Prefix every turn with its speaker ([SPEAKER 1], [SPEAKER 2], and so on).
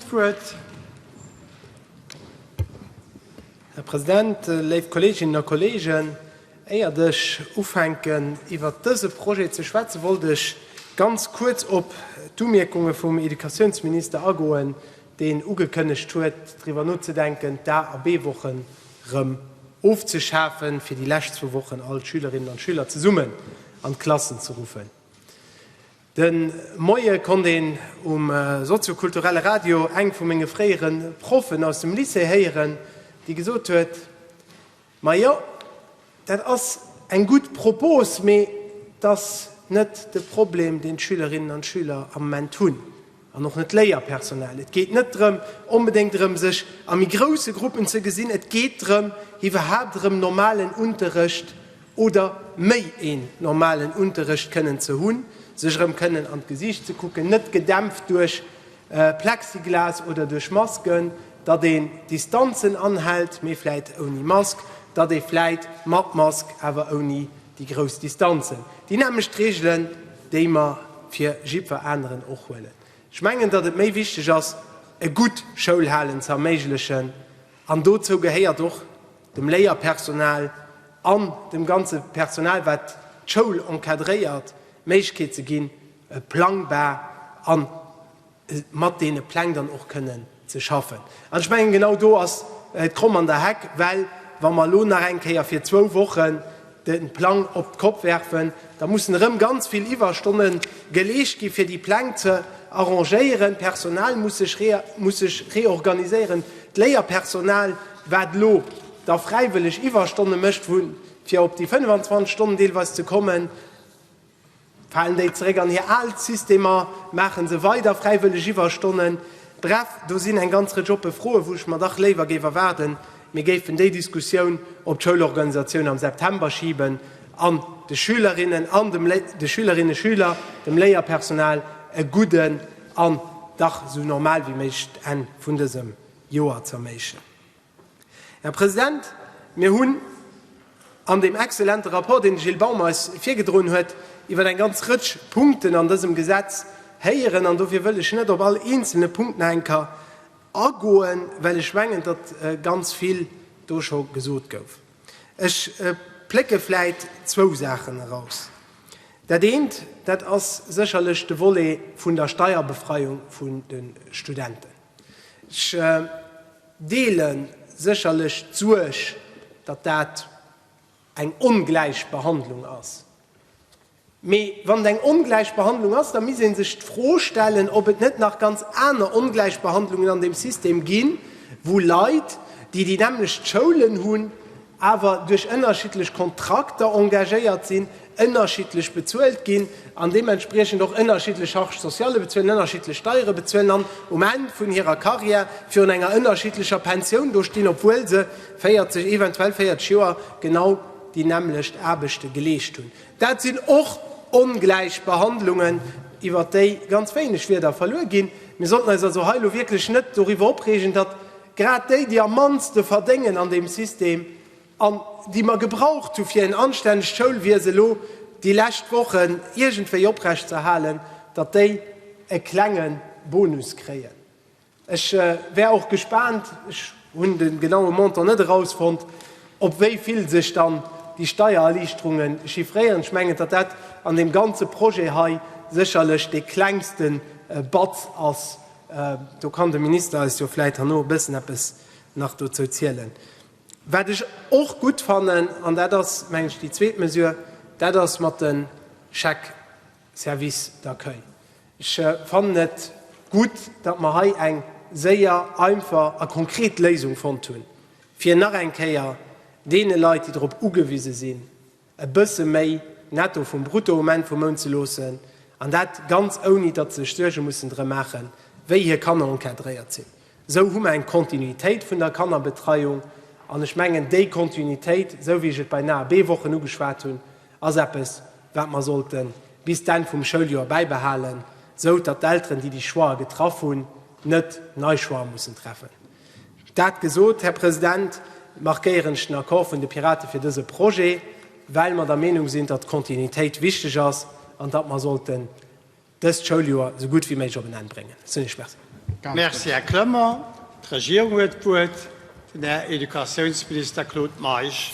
[SPEAKER 1] Wuert. Här President, léif Kolleeginnen a Kolleegen, éiert ech ufänken iwwert dëse Projet ze schwätzen, wollt ech ganz kuerz op d'Umierkunge vum Educatiounsminister agoen, deen ugekënnegt huet, driwwer nozedenken, d'A a B-Wochen erëm ofzeschafen, fir déi lescht zwou Wochen all d'Schülerinnen an d'Schüler zesummen an d'Klassen ze ruffen. De Moie konnt een um soziokulturelle Radio eng vu menge fréiere Proffen aus dem Lycée héieren, déi gesot huet, Ma jo, dat ass eng gutt Propos, mee et ass net de Problem, deen d'Schülerinnen an d'Schüler am Moment hunn. An och net d'Léierpersonal. Et geet net drëm, onbedéngt erëm sech a méi grousse Gruppen ze gesinn. Et geet drëm, iwwerhaapt erëm normalen Unterrecht oder méi een normalen Unterrecht kënnen ze hunn, sech erëm kënnen an d'Gesiicht ze kucken, net gedämpft duerch Plexiglas oder duerch Masken, datt een Distanzen anhält, mee vläit ouni Mask, datt ee vläit mat Mask, awer ouni Déi grouss Distanzen, déi nämmlecht Reegelen, déi mer fir jiddwer aneren och huelen. Ech mengen, datt et méi wichteg ass, e gutt Schoulhalen ze erméiglechen, an dozou gehéiert och, dem Léierpersonal an dem ganze Personal, wat d'Schoul encadréiert, d'Méiglechkeet ze ginn, e plangbar an mat deene Pläng dann och kënnen ze schaffen. An ech mengen, genau do ass d'Kromm an der Heck, well wa mer elo nach eng Kéier fir zwou Wochen de Plang op d'Kopp werfen, da mussen erëm ganz vill Iwwerstonne geleescht gi fir déi Pläng ze arrangéieren, d'Personal muss sech muss sech reorganiséieren, d'Léierpersonal, wat elo da fräiwëlleg Iwwerstonne mécht, fir op déi 25 Stonnen deelweis ze kommen. Falen déi zeréck an hir al Systemer? Maache se weider fräiwëlleg Iwwerstonnen? Bref, do sinn eng ganz Rëtsch oppe Froen, wou ech mer dach léiwer géif erwaarden, mir géifen déi Diskussioun op d'Schoulorganisatioun am September schiben an de Schülerinnen an dem, de Schülerinne, Schüler, dem Léierpersonal e gudden an dach esou normal wéi méiglech Enn vun dësem Joer z'erméiglechen. Här President, mir hunn an deem exzellente Rapport, deen de Gilles Baum eis virgedroen huet, iwwer eng ganz Rëtsch Punkten an dësem Gesetz héieren. An dofir wëll ech net op all eenzelne Punkt nach eng Kéier agoen, well ech mengen, datt ganz vill do scho gesot gouf. Ech plécke vläicht zwou Saachen eraus. Dat eent, dat ass sécherlech de Volet vun der Steierbefreiung vun de Studenten. Ech deele sécherlech d'Suerg, datt dat eng ongläich Behandlung ass. Mee wann et eng ongläich Behandlung ass, da misst ee sech d'Fro stellen, ob et net nach ganz aner ongläich Behandlungen an deem System ginn, wou Leit, déi déi nämmlecht Schoulen hunn, awer duerch ënnerschiddlech Kontrakter engagéiert sinn, ënnerschiddlech bezuelt ginn an deementspriechend och ënnerschiddlech Charges sociales bezuelen, ënnerschiddlech Steiere bezuelen an um Enn vun hirer Karriär virun enger ënnerschiddlecher Pensioun do stinn, obwuel se 40, eventuell 40 Joer genau déi nämmlecht Aarbechte geleescht hunn. Dat sinn och Ongläichbehandlungen, iwwert déi ganz wéineg Wieder verluer ginn. Mir sollten eis also hei elo wierklech net doriwwer opreegen, datt Grad déi, déi am mannste verdéngen an deem System an déi mer gebraucht hu fir en anstännegt Schoulwiese lo déi lescht Wochen iergendwéi oprecht ze erhalen, datt déi e klenge Bonus kréien. Ech wär och gespaant, ech hunn de genaue Montant net erausfonnt, op wéi vill sech dann déi Steiererliichterunge chiffréieren. Ech mengen, datt dat an deem ganze Projet hei sécherlech dee klengste Batz ass. Do kann de Minister eis jo vläit herno e bëssen eppes nach dozou zielen. Wat ech och gutt fannen, an dat ass, mengen ech, déi zweet Mesure, dat ass mat de Chèques services d'accueil. Ech fannen et gutt, datt mer hei eng séier, einfach a konkret Léisung fonnt hunn, fir nach eng Kéier deene Leit, déi drop ugewise sinn, e bësse méi Netto vum Brutto um Enn vum Mount ze loossen, an dat ganz ouni datt se sech Suerge mussen drëm maachen, wéi hir Kanner encadréiert sinn. Esou hu mer eng Kontinuitéit vun der Kannerbetreiung, an ech mengen, déi Kontinuitéit, esou wéi ech et bei den AEB-Wochen ugeschwat hunn, ass eppes, wat mer sollte bis d'Enn vum Schouljoer bäibehalen, esou datt d'Elteren, déi déi Choixë getraff hunn, net nei Choixë mussen treffen. Dat gesot, Här President, markéieren ech den Accord vun de Piraten fir dëse Projet, well mer der Meenung sinn, datt d'Kontinuitéit wichteg ass an datt mer sollten dëst Schouljoer esou gutt wéi méiglech op en Enn bréngen. Ech hunn Iech Merci. Merci, Här Clement. D'Regierung huet d'Wuert, den Här Educatiounsminister Claude Meisch.